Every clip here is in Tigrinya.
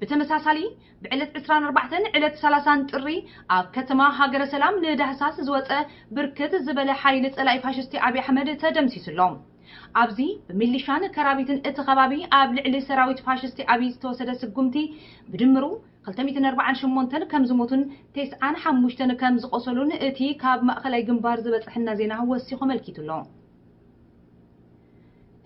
ብተመሳሳሊ ብዕለት ዕስራን ኣርባዕተን ዕለት ሰላሳን ጥሪ ኣብ ከተማ ሃገረ ሰላም ንዳህሳስ ዝወጸ ብርክት ዝበለ ሓይሊ ጸላኢ ፋሽስቲ ኣብይ ኣሕመድ ተደምሲሱ ኣሎ። ኣብዚ ብሚሊሻን ከራቢትን እቲ ከባቢ ኣብ ልዕሊ ሰራዊት ፋሽስቲ ኣብይ ዝተወሰደ ስጉምቲ ብድምሩ ክልተ ሚእትን ኣርባዓን ሸሞንተን ከምዝሞቱን ቴስዓን ሓሙሽተን ከምዝቖሰሉን እቲ ካብ ማእኸላይ ግንባር ዝበፀሐና ዜና ወሲኹ ኣመልኪቱ ኣሎ።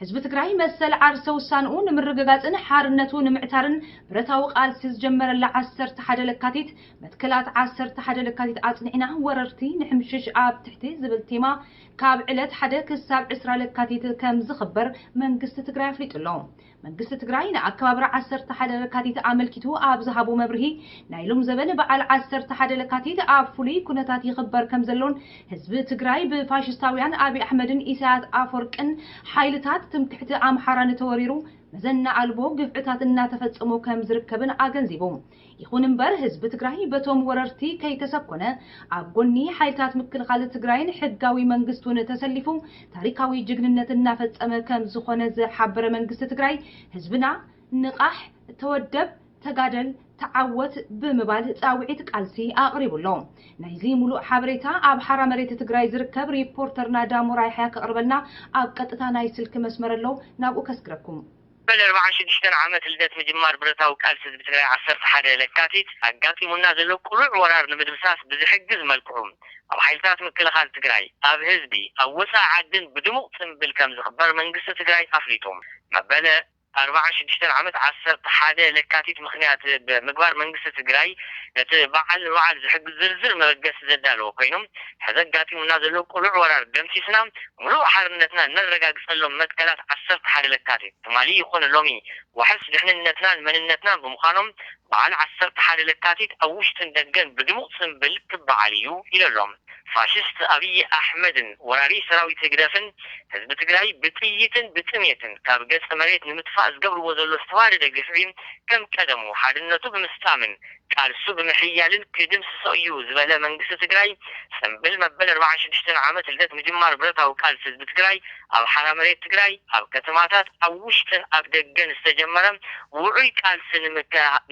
ህዝቢ ትግራይ መሰል ዓርሰ ውሳንኡ ንምርግጋፅን ሓርነቱ ንምዕታርን ብረታዊ ቃልሲ ዝጀመረላ ዓሰርተ ሓደ ለካቲት መትከላት ዓሰርተ ሓደ ለካቲት ኣፅኒዕና ወረርቲ ንሕምሽሽ ኣብ ትሕቲ ዝብል ቴማ ካብ ዕለት ሓደ ክሳብ ዕስራ ለካቲት ከምዝኽበር መንግስቲ ትግራይ ኣፍሊጡ ኣሎ። መንግስቲ ትግራይ ንኣከባብራ ዓሰርተ ሓደ ለካቲት ኣመልኪቱ ኣብ ዝሃቦ መብርሂ፣ ናይ ሎምዘበን በዓል ዓሰርተ ሓደ ለካቲት ኣብ ፍሉይ ኩነታት ይኽበር ከምዘሎን ህዝቢ ትግራይ ብፋሽስታውያን ኣብይ ኣሕመድን ኢሳያስ ኣፎርቅን ሓይልታት ትምክሕቲ ኣምሓራን ተወሪሩ መዘና ኣልቦ ግፍዕታት እናተፈጸሞ ከምዝርከብን ኣገንዚቡ። ይኹን እምበር ህዝቢ ትግራይ በቶም ወረርቲ ከይተሰኮነ ኣብ ጎኒ ሓይልታት ምክልኻል ትግራይን ሕጋዊ መንግስቱን ተሰሊፉ ታሪካዊ ጅግንነት እናፈፀመ ከምዝኾነ ዝሓበረ መንግስቲ ትግራይ ህዝብና ንቓሕ፣ ተወደብ፣ ተጋደል፣ ተዓወት ብምባል ፃውዒት ቃልሲ ኣቕሪቡ ኣሎ። ናይዚ ሙሉእ ሓበሬታ ኣብ ሓራ መሬት ትግራይ ዝርከብ ሪፖርተርና ዳሞራ ያሕያ ከቕርበልና ኣብ ቀጥታ ናይ ስልኪ መስመር ኣሎ ናብኡ ከስግረኩም። መበል ኣርባዓን ሽዱሽተን ዓመት ልደት ምጅማር ብረታዊ ቃልሲ ህዝቢ ትግራይ ዓሰርተ ሓደ ለካቲት ኣጋጢሙና ዘሎ ቅሉዕ ወራር ንምድምሳስ ብዝሕግዝ መልክዑ ኣብ ሓይልታት ምክልኻል ትግራይ፣ ኣብ ህዝቢ፣ ኣብ ወፃኢ ዓድን ብድሙቕ ፅንብል ከምዝኽበር መንግስቲ ትግራይ ኣፍሊጡ። መበል ኣርባዓን ሽዱሽተን ዓመት ዓሰርተ ሓደ ለካቲት ምኽንያት ብምግባር መንግስቲ ትግራይ ነቲ በዓል ንምብዓል ዝሕግዝ ዝርዝር መበገሲ ዘዳለወ ኮይኑ፣ ሕዚ ኣጋጢሙና ዘሎ ቅሉዕ ወራር ደምሲስና ምሉእ ሓርነትና እነረጋግፀሎም መትከላት ዓሰርተ ሓደ ለካቲት፣ ትማሊ ይኹን ሎሚ ዋሕስ ድሕንነትናን መንነትናን ብምዃኖም በዓል ዓሰርተ ሓደ ለካቲት ኣብ ውሽጥን ደገን ብድሙቕ ፅምብል ክበዓል እዩ ኢለሎም። ፋሽስት ኣብይ ኣሕመድን ወራሪ ሰራዊት ህግደፍን ህዝቢ ትግራይ ብጥይትን ብጥሜትን ካብ ገፀ መሬት ንምጥፋእ ዝገብርዎ ዘሎ ዝተዋደደ ግፍዒ ከም ቀደሙ ሓድነቱ ብምስጣምን ቃልሱ ብምሕያልን ክድምስሶ እዩ ዝበለ መንግስቲ ትግራይ፣ ፅምብል መበል ኣርብዓን ሽዱሽተን ዓመት ልደት ምጅማር ብረታዊ ቃልሲ ህዝቢ ትግራይ ኣብ ሓራ መሬት ትግራይ፣ ኣብ ከተማታት፣ ኣብ ውሽጥን ኣብ ደገን ዝተጀመረ ውዑይ ቃልሲ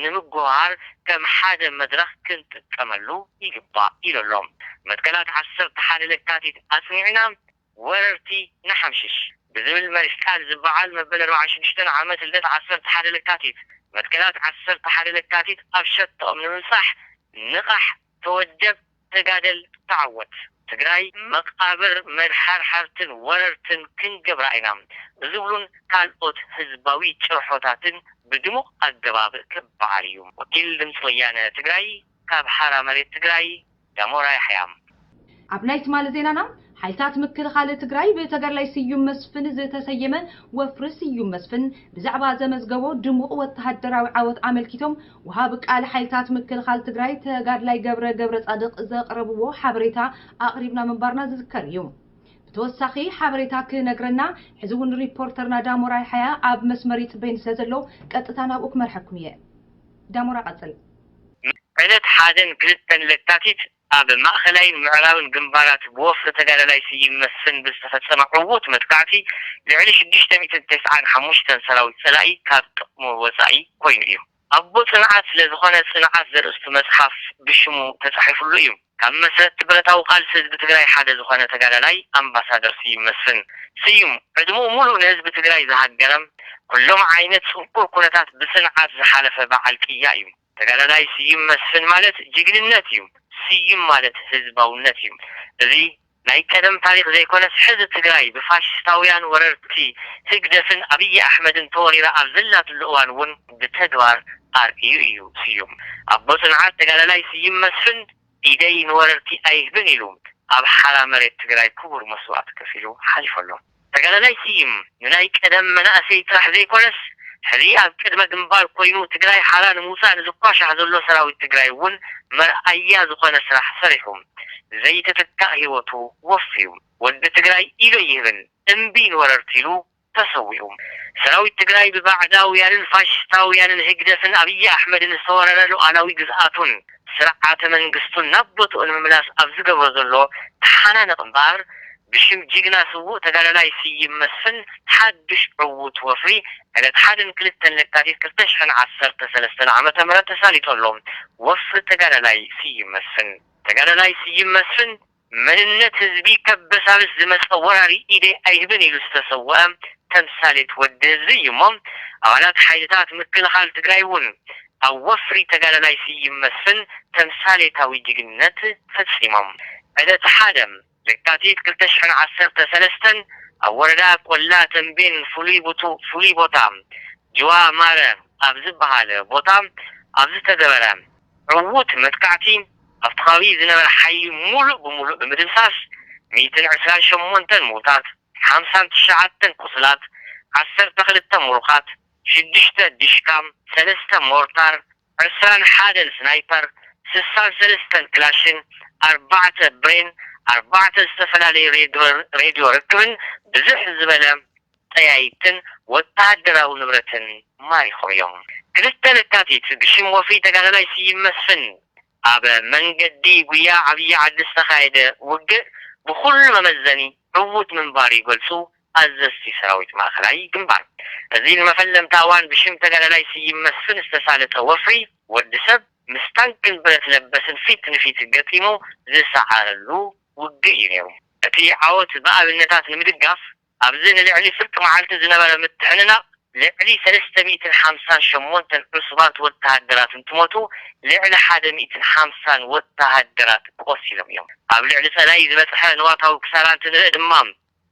ንምጉህሃር ከም ሓደ መድረኽ ክንጥቀመሉ ይግባእ ኢሉ ኣሎ። መትከላት ዓሰርተ ሓደ ለካቲት ኣፅኒዕና፣ ወረርቲ ንሓምሽሽ ብዝብል መሪሕ ቃል ዝበዓል መበል ኣርብዓን ሽዱሽተን ዓመት ልደት ዓሰርተ ሓደ ለካቲት መትከላት ዓሰርተ ሓደ ለካቲት ኣብ ሸቶኦም ንምብፃሕ ንቓሕ፣ ተወደብ፣ ተጋደል፣ ተዓወት! ትግራይ መቓብር መድሓርሓርትን ወረርትን ክንገብራ ኢና ብዝብሉን ካልኦት ህዝባዊ ጭርሖታትን ብድሙቕ ኣገባብ ክበዓል እዩ። ወኪል ድምፂ ወያነ ትግራይ ካብ ሓራ መሬት ትግራይ ዳሞራ ያሕያ። ኣብ ናይ ትማሊ ዜናና፣ ሓይልታት ምክልኻል ትግራይ ብተጋዳላይ ስዩም መስፍን ዝተሰየመ ወፍሪ ስዩም መስፍን ብዛዕባ ዘመዝገቦ ድሙቕ ወተሃደራዊ ዓወት ኣመልኪቶም ወሃቢ ቃል ሓይልታት ምክልኻል ትግራይ ተጋዳላይ ገብረ ገብረፃድቕ ዘቕረብዎ ሓበሬታ ኣቕሪብና ምንባርና ዝዝከር እዩ። ብተወሳኺ ሓበሬታ ክነግረና ሕዚ እውን ሪፖርተርና ዳሞራ ያሓያ ኣብ መስመር ይፅበየኒ ስለዘሎ ቀጥታ ናብኡ ክመርሐኩም እየ። ዳሞራ ቀፅል። ዕለት ሓደን ክልተን ለካቲት ኣብ ማእኸላይን ምዕራብን ግንባራት ብወፍሪ ተጋዳላይ ስዩም መስፍን ብዝተፈፀመ ዕዉት መጥቃዕቲ ልዕሊ ሽዱሽተ ሚእትን ተስዓን ሓሙሽተን ሰራዊት ፀላኢ ካብ ጥቕሙ ወፃኢ ኮይኑ እዩ። ኣቦ ፅንዓት ስለዝኾነ ፅንዓት ዘርእስቱ መፅሓፍ ብሽሙ ተፃሒፍሉ እዩ። ካብ መስረትቲ ብረታዊ ቃልሲ ህዝቢ ትግራይ ሓደ ዝኾነ ተጋዳላይ ኣምባሳደር ስዩም መስፍን፣ ስዩም፣ ዕድምኡ ሙሉእ ንህዝቢ ትግራይ ዝሃገረም ኩሎም ዓይነት ፅንኩር ኩነታት ብፅንዓት ዝሓለፈ በዓል ቅያ እዩ። ተጋዳላይ ስዩም መስፍን ማለት ጅግንነት እዩ። ስዩም ማለት ህዝባውነት እዩ። እዚ ናይ ቀደም ታሪኽ ዘይኮነስ ሕዚ ትግራይ ብፋሽስታውያን ወረርቲ ህግደፍን ኣብይ ኣሕመድን ተወሪራ ኣብ ዘላትሉ እዋን እውን ብተግባር ኣርእዩ እዩ። ስዩም ኣቦ ፅንዓት ተጋዳላይ ስይም መስፍን ኢደይ ንወረርቲ ኣይህብን ኢሉ ኣብ ሓራ መሬት ትግራይ ክቡር መስዋእቲ ከፊሉ ሓሊፉ ኣሎ። ተጋዳላይ ስይም ንናይ ቀደም መናእሰይ ጥራሕ ዘይኮነስ ሕዚ ኣብ ቅድመ ግንባር ኮይኑ ትግራይ ሓራ ንምውፃእ ንዝኳሻሕ ዘሎ ሰራዊት ትግራይ እውን መርኣያ ዝኾነ ስራሕ ሰሪሑ ዘይተተካእ ህይወቱ ወፍዩ። ወዲ ትግራይ ኢዱ ኣይህብን እምቢ ንወረርቲ ኢሉ ተሰዊኡ። ሰራዊት ትግራይ ብባዕዳውያንን ፋሽስታውያንን ህግደፍን ኣብይ ኣሕመድን ዝተወረረ ሉኣላዊ ግዝኣቱን ስርዓተ መንግስቱን ናብ ቦትኡ ንምምላስ ኣብ ዝገብሮ ዘሎ ተሓናነቕ እምበኣር ብሽም ጅግና ስዉእ ተጋዳላይ ስዪም መስፍን ሓዱሽ ዕዉት ወፍሪ ዕለት ሓደን ክልተን ለካቲት ክልተ ሽሕን ዓሰርተ ሰለስተን ዓመተ ምህረት ተሳሊጡ ኣሎ። ወፍሪ ተጋዳላይ ስዪም መስፍን! ተጋዳላይ ስዪም መስፍን መንነት ህዝቢ ከበሳብስ ዝመጸ ወራሪ ኢደይ ኣይህብን ኢሉ ዝተሰወኣ ተምሳሌት ወዲ ህዝቢ እዩ እሞ ኣባላት ሓይልታት ምክልኻል ትግራይ እውን ኣብ ወፍሪ ተጋዳላይ ስዪም መስፍን ተምሳሌታዊ ጅግንነት ፈጺሞም። ዕለት ሓደ። ለካቲት ክልተ ሽሕን ዓሰርተ ሰለስተን ኣብ ወረዳ ቆላ ተምቤን ፍሉይ ቦታ ጅዋ ማረ ኣብ ዝበሃል ቦታ ኣብ ዝተገበረ ዕዉት መጥቃዕቲ ኣብቲ ከባቢ ዝነበረ ሓይሊ ሙሉእ ብሙሉእ ብምድምሳስ ሚእትን ዕስራን ሸሞንተን ምዉታት፣ ሓምሳን ትሽዓተን ቁሱላት፣ ዓሰርተ ክልተ ሙሩኻት፣ ሽዱሽተ ዲሽካ፣ ሰለስተ ሞርታር፣ ዕስራን ሓደን ስናይፐር፣ ስሳን ሰለስተን ክላሽን፣ ኣርባዕተ ብሬን፣ ኣርባዕተ ዝተፈላለዩ ሬድዮ ርክብን ብዝሕ ዝበለ ጠያይትን ወተሃደራዊ ንብረትን ማሪኾም እዮም። ክልተ ለካቲት ብሽም ወፍሪ ተጋዳላይ ስዪም መስፍን ኣብ መንገዲ ጉያ ዓብዪ ዓዲ ዝተኻየደ ውግእ ብኹሉ መመዘኒ ዕዉት ምንባሩ ይገልፁ ኣዘዝቲ ሰራዊት ማእኸላይ ግንባር። እዚ ንመፈለምታ እዋን ብሽም ተጋዳላይ ስዪም መስፍን ዝተሳለጠ ወፍሪ ወዲ ሰብ ምስ ታንክን ብረት ለበስን ፊት ንፊት ገጢሙ ዝሰዓረሉ ውግእ እዩ ነይሩ። እቲ ዓወት ብኣብነታት ንምድጋፍ ኣብዚ ንልዕሊ ፍርቂ መዓልቲ ዝነበረ ምትዕንናቕ ልዕሊ ሰለስተ ሚእትን ሓምሳን ሸሞንተን ዕሱባት ወተሃደራት እንትሞቱ ልዕሊ ሓደ ሚእትን ሓምሳን ወተሃደራት ቆሲሎም እዮም። ኣብ ልዕሊ ፀላኢ ዝበፅሐ ንዋታዊ ክሳራ እንትንርኢ ድማ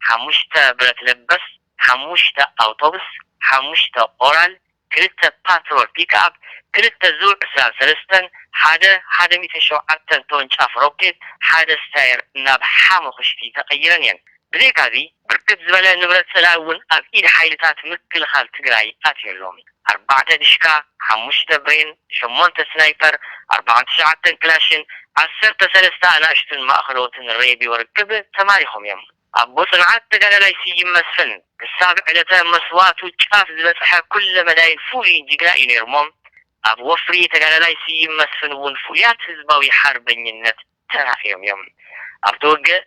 ሓሙሽተ ብረት ለበስ፣ ሓሙሽተ ኣውቶብስ፣ ሓሙሽተ ኦራል፣ ክልተ ፓትሮል ፒክኣፕ፣ ክልተ ዙ ዕስራን ሰለስተን፣ ሓደ ሓደ ሚእትን ሸውዓተን ተወንጫፊ ሮኬት፣ ሓደ ስታየር ናብ ሓሙኽሽቲ ተቐይረን እየን። ብዘይካ'ዚ ብርክት ዝበለ ንብረት ጸላኢ እውን ኣብ ኢድ ሓይልታት ምክልኻል ትግራይ ኣትዩ ኣሎ። ኣርባዕተ ዲሽቃ፣ ሓሙሽተ ብሬን፣ ሸሞንተ ስናይፐር፣ ኣርብዓን ትሽዓተን ክላሽን፣ ዓሰርተ ሰለስተ ኣናእሽቱን ማእኸለዎትን ሬድዮ ርክብ ተማሪኾም እዮም። ኣቦ ፅንዓት ተጋዳላይ ስዩም መስፍን ክሳብ ዕለተ መስዋእቱ ጫፍ ዝበፅሐ ኩለ መዳይን ፍሉይን ጅግና እዩ ነይሩ'ሞ ኣብ ወፍሪ ተጋዳላይ ስዩም መስፍን እውን ፍሉያት ህዝባዊ ሓርበኝነት ተራእዮም እዮም። ኣብቲ ውግእ፣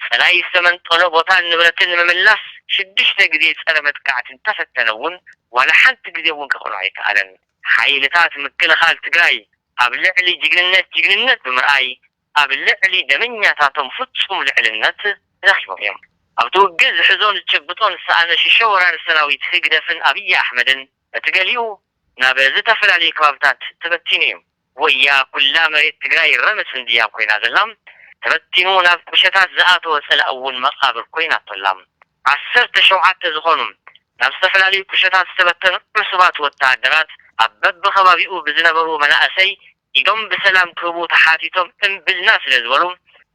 ጸላኢ ዝተመንጠሎ ቦታን ንብረትን ንምምላስ ሽዱሽተ ግዜ ጸረ መጥቃዕቲ እንተፈተነ እውን ዋላ ሓንቲ ግዜ እውን ከኽእሎ ኣይከኣለን። ሓይልታት ምክልኻል ትግራይ ኣብ ልዕሊ ጅግንነት ጅግንነት ብምርኣይ ኣብ ልዕሊ ደመኛታቶም ፍጹም ልዕልነት ረኺቦም እዮም። ኣብቲ ውግእ ዝሕዞን ዝጭብጦን ዝሰኣነ ሽሾ ወራሪ ሰራዊት ህግደፍን ኣብይ ኣሕመድን በቲ ገሊኡ ናብ ዝተፈላለዩ ከባብታት ተበቲኑ እዩ። ወያ ኩላ መሬት ትግራይ ረምስ እንድያ ኮይና ዘላ ተበቲኑ ናብ ቁሸታት ዝኣተወ ፀላኢ እውን መቃብር ኮይናቶ ኣላ ዓሰርተ ሸውዓተ ዝኾኑ ናብ ዝተፈላለዩ ቁሸታት ዝተበተኑ ዕሱባት ወታደራት ኣብ በቢከባቢኡ ብዝነበሩ መናእሰይ ኢዶም ብሰላም ክህቡ ተሓቲቶም እምብልና ስለ ዝበሉ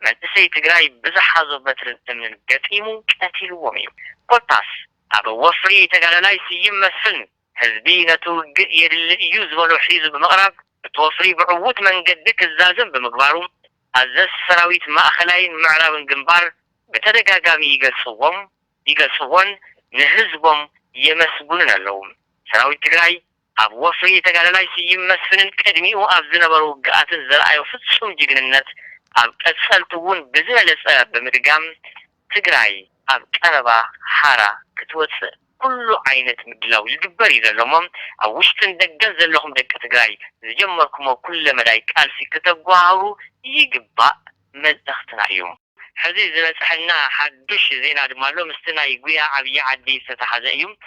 መንእሰይ ትግራይ ብዝሓዞ በትርን እምንን ገጢሙ ቀቲልዎም እዩ ኮታስ ኣብ ወፍሪ ተጋዳላይ ስዩም መስፍን ህዝቢ ነቲ ውግእ የድሊ እዩ ዝበሎ ሒዙ ብምቕራብ እቲ ወፍሪ ብዕዉት መንገዲ ክዛዘም ብምግባሩ ኣዘዝቲ ሰራዊት ማእኸላይን ምዕራብን ግንባር ብተደጋጋሚ ይገልፅዎም ይገልፅዎን ንህዝቦም የመስጉንን ኣለዉ። ሰራዊት ትግራይ ኣብ ወፍሪ ተጋዳላይ ስዩም መስፍንን ቅድሚኡ ኣብ ዝነበሩ ውግኣትን ዘርኣዮ ፍፁም ጅግንነት ኣብ ቀፀልቲ እውን ብዝበለፀ ብምድጋም ትግራይ ኣብ ቀረባ ሓራ ክትወፅእ ኩሉ ዓይነት ምድላው ይግበር እዩ ዘሎ እሞ ኣብ ውሽጥን ደገን ዘለኹም ደቂ ትግራይ ዝጀመርኩሞ ኩለ መዳይ ቃልሲ ክተጓሃህሩ ይግባእ መልእኽትና እዩ። ሕዚ ዝበፀሐና ሓዱሽ ዜና ድማ ኣሎ። ምስቲ ናይ ጉያ ዓብዪ ዓዲ ዝተተሓዘ እዩ።